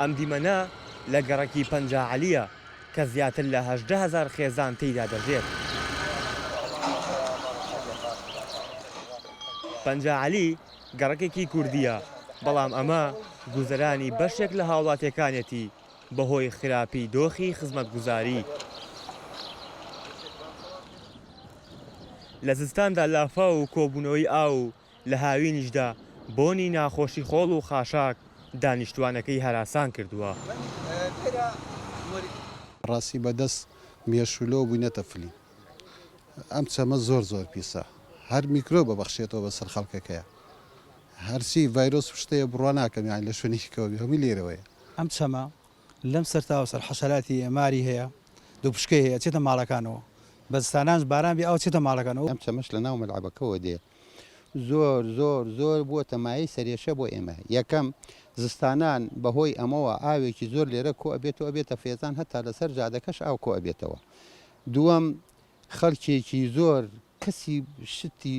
ئەم دیمەنە لە گەڕەکی پەنجا عەلییە کە زیاتر لە هەژدە هەزار خێزان تێیدا دەژێت. پەنجا عەلی گەڕەکێکی کوردییە، بەڵام ئەمە گوزەرانی بەشێک لە هاوڵاتییەکانێتی بەهۆی خراپی دۆخی خزمەتگوزاری. لە زستاندا لافاو و کۆبوونەوەی ئاو و لە هاوینیشدا بۆنی ناخۆشی خۆڵ و خاشاک دانیشتوانەکەی هەراسان کردووە. بەڕاستی بەدەست مێشولەوە بوینەتە فلیم ئەم چەمە زۆر زۆر پیسە هەر میکرۆب ئەبەخشێتەوە بەسەر خەڵکەکەیا هەرچی ڤایرۆس و شتەیە بڕوا ناکەم یانی لە شوێنێکی کەوە بێ هەموی لێرەوەیە. ئەم چەمە لەم سەر تا ئەو سەر حەشەراتی هەیە ماری هەیە دوپشکەی هەیە ئەچێتە ماڵەکانەوە بە زستانانش باران بێ ئاو چێتە ماڵەکانەوە. ئەم چەمەش لە ناو مەلعەبەکەوە دێ. زۆر زۆر زۆر بووەتە مایەی سەرێشە بۆ ئێمە، یەکەم، زستانان بەهۆی ئەمەوە ئاوێکی زۆر لێرە کۆئەبێت و ئەبێتە فێزان هەتا لەسەر جادەکەش ئاو کۆئەبێتەوە، دووەم، خەڵکێکی زۆر کەسی شتی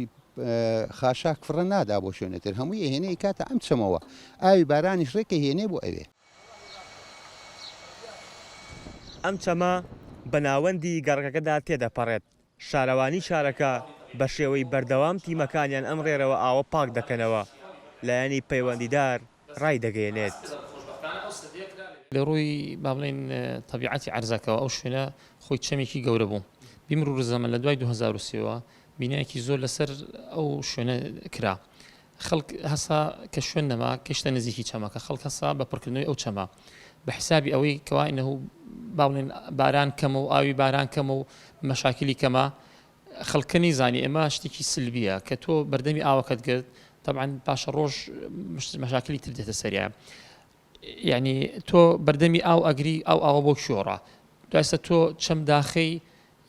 خاشاک فڕە نادا بۆ شوێنە تر هەمووی ئەهێنێ ئەیکاتە ئەم چەمەوە، ئاوی بارانیش ڕێک ئەهێنێ بۆ ئەوێ. ئەم چەمە بە ناوەندی گەڕەکەکەدا تێدەپەڕێت، شارەوانی شارەکە بە شێوەی بەردەوام تیمەکانیان ئەم ڕێرەوە ئاوە پاک دەکەنەوە، لایەنی پەیوەندیدار ڕایدەگەیەنێت. لە ڕووی با بڵێین تەبیعەتی عەرزەکەوە ئەو شوێنە خۆی چەمێکی گەورە بوو. بیمروورزەمەن لە دوای دوو هەزار و سێ وە بینایەکی زۆر لەسەر ئەو شوێنە کرا. خەڵک هەستا کە شوێن نەما گەشتە نزیکی چەمەکە، خەڵک هەستا بە پڕکردنەوەی ئەو چەمە بە حیسابی ئەوەی کەوا ئینەهو با بڵێن باران کەمە و ئاوی باران کەمە و مەشاکیلی کەمە، خەڵکە نەیزانی ئەمە شتێکی سلبیە کە تۆ بەردەمی ئاوەکەت گرت تەبعەن پاشەڕۆژ مەشاکیلی تر دێتە سەریان. یانی تۆ بەردەمی ئاو ئەگری ئەو ئاوە بۆ کیۆڕە دوای سە تۆ چەم داخەی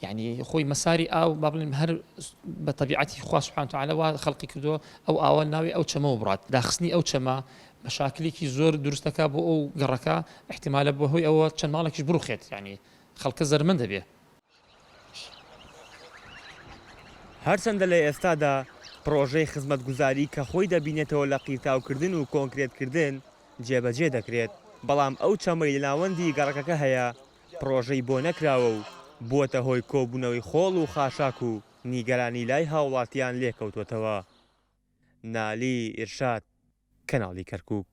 یعنی خۆی مەساری ئاو با بڵێن هەر بە تەبیعەتی خوا سبحانه وتعالى وا خەڵقی کردووە ئەو ئاوە ناوی ئەو چەمەوە بڕات داخستنی ئەو چەمە مەشاکلێکی زۆر دروست دەکا بۆ ئەو گەڕەکە احتمالە بە هۆی ئەوە چەند ماڵێکیش بڕوخێت یعنی خەڵکە زەرمەند دەبێ هەرچەندە لە ئێستادا پڕۆژەی خزمەتگوزاری کە خۆی دەبینێتەوە لە قیرتاوکردن و کۆنکرێتکردن جێبەجێ دەکرێت، بەڵام ئەو چەمەی لە ناوەندی گەڕەکەکە هەیە پڕۆژەی بۆ نەکراوە و بووەتە هۆی کۆبوونەوەی خۆڵ و خاشاک و نیگەرانی لای هاوڵاتیان لێکەوتووەتەوە. نالی ئیرشاد، کەناڵی کەرکووک.